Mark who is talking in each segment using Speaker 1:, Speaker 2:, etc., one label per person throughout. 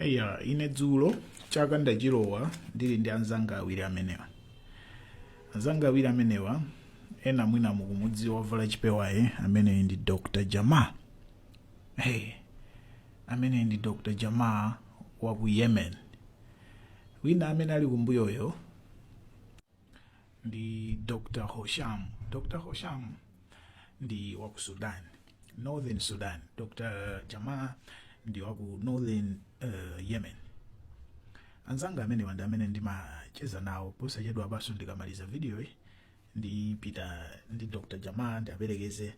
Speaker 1: eya ine dzulo chaka ndachilowa ndili ndi anzanga awiri amenewa anzanga awiri amenewa ena mwina mukumudziwa wavala chipewayo ameneyi ndi dr jama hey, ameneyi ndi dr jama wa ku yemen wina amene ali kumbuyoyo ndi dr hosham dr hosham ndi waku sudan northern sudan dr jamaa ndi waku northern uh, yemen anzanga amenewa ndi amene ndimacheza nawo posachedwapanso ndikamaliza video iyi ndipita ndi dr jamaa ndiwaperekeze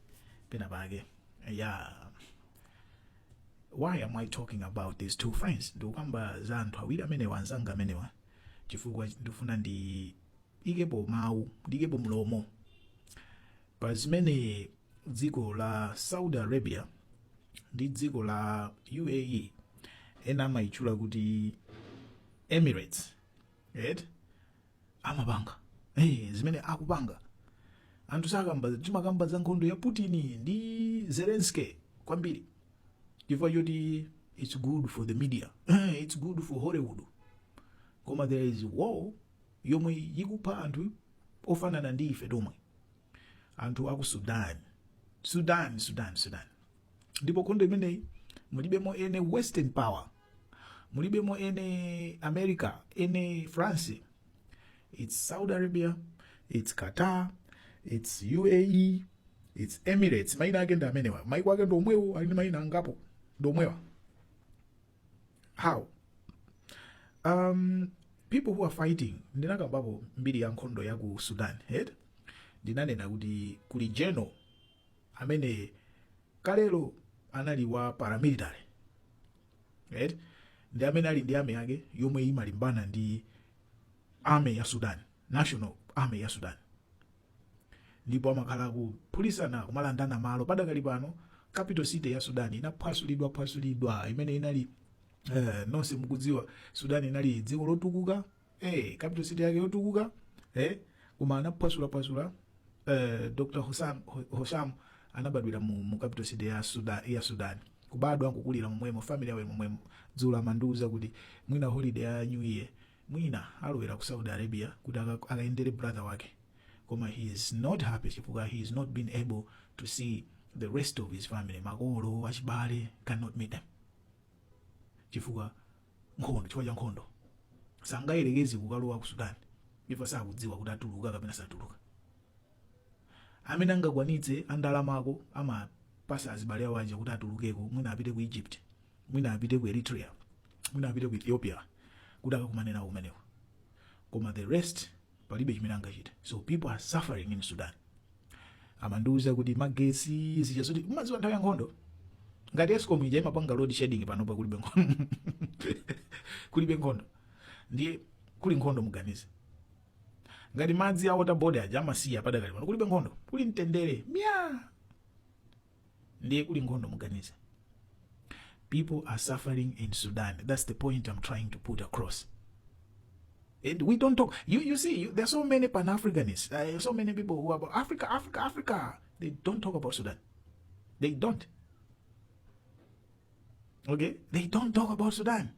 Speaker 1: pena pake ya why am i talking about these two friends ndikukamba za anthu awiri amenewa anzanga amenewa chifukwa ndikufuna ndiikepo mawu ndiikepo mlomo pa zimene dziko la saudi arabia ndi dziko la uae ena amayitchula kuti emirates right? amapanga hey, zimene akupanga anthu sakamba timakamba za nkhondo ya putin ndi zelenski kwambiri chifukwa choti its good for the media its good for hollywood koma there is war yomwe ikupha anthu ofanana ndi ife tomwe anthu aku sudan sudan sudan sudan ndipo nkhondo imeneyi mulibemo eni western power mulibemo eni america eni france it's saudi arabia it's qatar it's uae it's emirates maina ake ndi amenewa maiko ake ndi omwewo ali ndi maina angapo ndi omwewa how um, people who are fighting ndinakambapo mbiri ya nkhondo ya ku sudan ndinanena kuti kuli general amene kalelo anali wa paramilitary right? ndi amene ali ndi army yake yomwe imalimbana ndi army ya sudan national army ya sudan ndipo amakhala akuphulisana kumalandana malo padakali pano capital city ya sudan inaphwasulidwa phwasulidwa imene inali eh, nonse mukudziwa sudan inali dziko lotukuka eh capital city yake yotukuka eh koma anaphwasula phwasula eh Dr. Hosam Ho- Hosham anabadwira mu, mu capital city ya Sudan ya Sudan kubadwa nkukulira momwemo family yawo momwemo dzulo amandiuza kuti mwina holiday ya new year mwina alowera ku Saudi Arabia kuti aka- akaendere brother wake koma he is not happy chifukwa he has not been able to see the rest of his family makolo achibale cannot meet them chifukwa nkhondo chifukwa cha nkhondo sangayerekeze kukalowa ku sudan chifukwa sakudziwa kuti atuluka kapena satuluka amene angakwanitse andalamako amapatsa azibale awo aja kuti atulukeko mwina apite ku egypt mwina apite ku eritrea mwina apite ku ethiopia kuti akakumane nawo kumeneko koma the rest palibe chimene angachite so people are suffering in sudan amandiuza kuti magetsi zija zoti mumadziwa nthawi ya nkhondo ngati escom ija imapanga load shedding panopa kulibe nkhondo kulibe nkhondo ndiye kuli nkhondo muganize ngati madzi a water board aja amasiya padakali pano kulibe nkhondo kuli mtendere mwina ndiye kuli nkhondo muganiza people are suffering in sudan that's the point i'm trying to put across and we don't talk you, you see you, there are so many pan-africanists there are so many people who are about africa africa africa they don't talk about sudan they don't okay they don't talk about sudan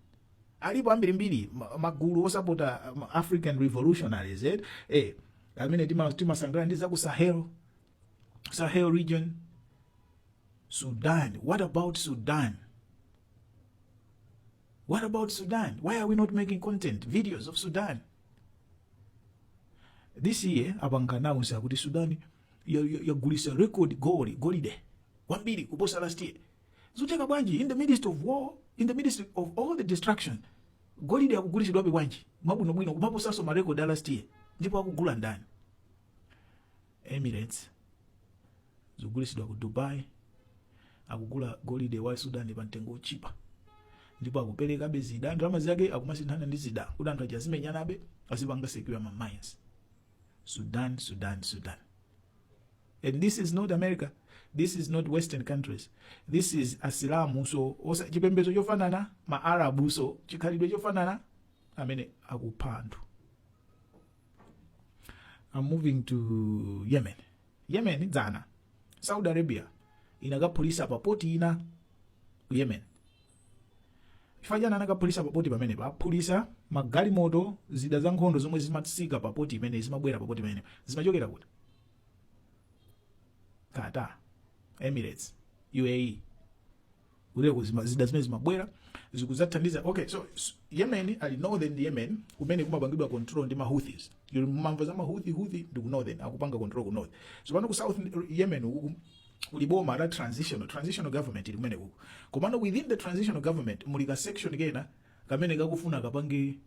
Speaker 1: alipo ambirimbiri ma- magulu osapota um, african revolutionaries eh? eh, amene tima- timasangalala ndi za ku sahel Sahel region, Sudan. What about Sudan? What about Sudan? Why are we not making content, videos of Sudan? This year, apanga announce kuti Sudan yagulitsa record gold, golide, wambiri kuposa last year. Zikutheka bwanji, in the midst of war, in the midst of all the destruction, golide akugulitsidwabe bwanji, mwabwinobwino kumaposanso ma record a last year, ndipo akugula ndani? Emirates zikugulitsidwa ku Dubai akugula golide wa Sudan pa mtengo otchipa ndipo akuperekabe zida ndalama zake akumasinthana ndi zida kuti anthu aja azimenyanabe azipanga secure ma mines Sudan Sudan Sudan and this is not America this is not western countries this is asilamunso a chipembedzo chofanana ma arabunso chikhalidwe chofanana amene akupha anthu I'm moving to yemen yemen dzana saudi arabia inakaphulitsa papoti ina ku yemen chifukwa chani anakaphulitsa papoti pamenepa aphulitsa magalimoto zida za nkhondo zomwe zimatsika papoti imene zimabwera papoti pamenepa zimachokera kuti qatar emirates uae kuteroko zida zimene zimabwera zikudzathandiza okay so s- yemen kuli northern yemen kumene kumapangidwa control ndi mahouthis mumamva za mahouthi houthi ndi ku northern akupanga control ku north so pano ku south yemen uku kuli boma la transitional transitional government ili kumene kuku komano within the transitional government muli ka section kena kamene kakufuna kapange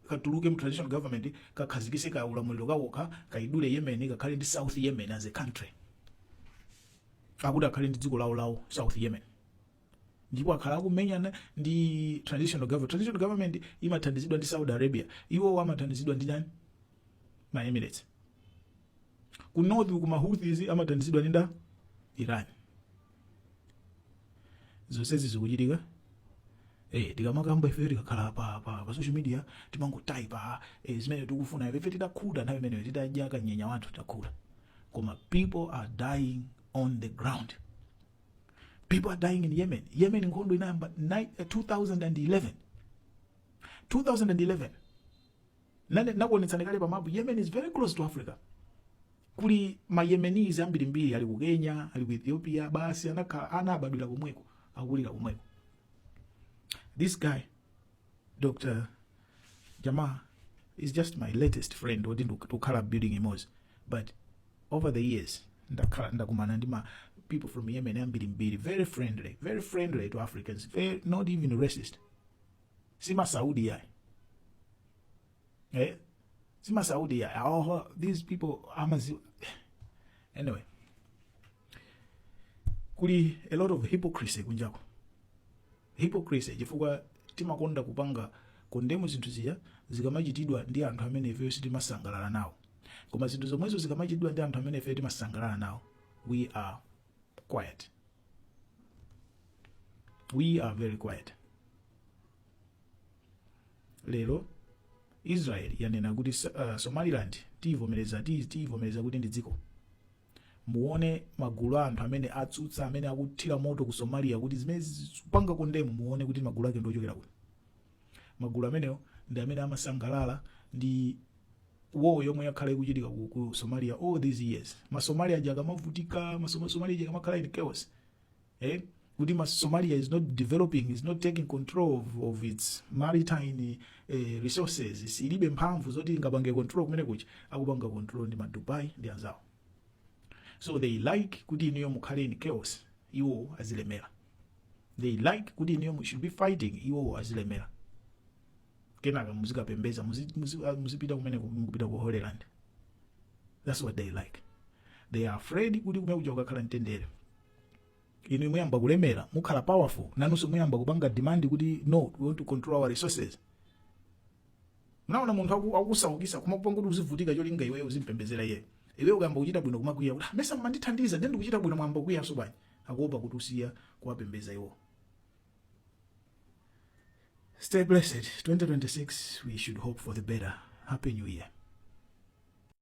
Speaker 1: katuluke mu transitional government kakhazikise ka ulamuliro kakokha kaidule yemen kakhale ndi south yemen as a country akuti akhale ndi dziko lawo lawo south yemen ndipo akhala akumenyana ndi transitional government transitional government imathandizidwa ndi saudi arabia iwowo amathandizidwa ndi ndani ma emirates ku north ku mahouthis amathandizidwa ndi ndani iran zonsezi zikuchitika Eh, tikamakamba ife tikakhala pa, pa, pa social media timangotaipa eh, zimene tikufuna ife titakhuta nthawi imeneyo titadya kanyenya wathu takhuta koma people are dying on the ground people are dying in yemen yemen nkhondo inayamba ni- eh, 2011 2011 Nakuonetsani kale pa mapu. Yemen is very close to Africa. Kuli ma Yemenis ambirimbiri ali ku Kenya, ali ku Ethiopia, basi anabadwira komweko, akulira komweko. This guy Dr. Jamal is just my latest friend oti ndikukhala building imodzi but over the years ndakhala ndakumana ndi ma people from Yemen ambirimbiri very friendly very friendly to Africans very, not even racist si ma Saudi yayi eh si ma Saudi yayi oh, these people amazi anyway kuli a lot of hypocrisy kunjako hypocrisy chifukwa timakonda kupanga kondemu zinthu zija zikamachitidwa ndi anthu amene ifeyo sitimasangalala nawo koma zinthu zomwezo zikamachitidwa ndi anthu amene ifeyo timasangalala nawo we are quiet we are very quiet lero israel yanena kuti uh, somaliland tiyivomereza ti- tiyivomereza kuti ndi dziko muone magulu a anthu amene atsutsa amene akuthira moto ku somalia kuti zimenezi kupanga kondemu muone kuti magulu ake ndiochokera kuti magulu amenewo ndi amene amasangalala ndi war yomwe yakhala ikuchitika ku, ku somalia all these years masomalia aja akamavutika masoma- somalia aja akamakhala in chaos eh? kuti ma- somalia is not developing is not taking control of, of its maritime eh, resources ilibe mphamvu zoti ingapange control kumene kuja akupanga control ndi madubai ndi anzawo so they like kuti inuyo mukhale in chaos iwo azilemera they like kuti inuyo mu should be fighting iwowo azilemera kenaka muzikapembedza muzi- muzi- ah, muzipita kumene kuja ku holy land that's what they like they are afraid kuti kumene kuja kukakhala mtendere inu muyamba kulemera mukhala powerful nanunso muyamba kupanga demand kuti no we want to control our resources munaona munthu aku- akusaukitsa kumakupanga kuti uzivutika cholinga iweyo uzimpembedzera iyeyo iweyo ukayamba kuchita bwino kumakwiya kuti "Ah, mesa mumandithandiza nde ndikuchita bwino mwayamba kukwiyanso bwanji akuopa kuti usiya kuwapembeza iwo stay blessed 2026 we should hope for the better happy new year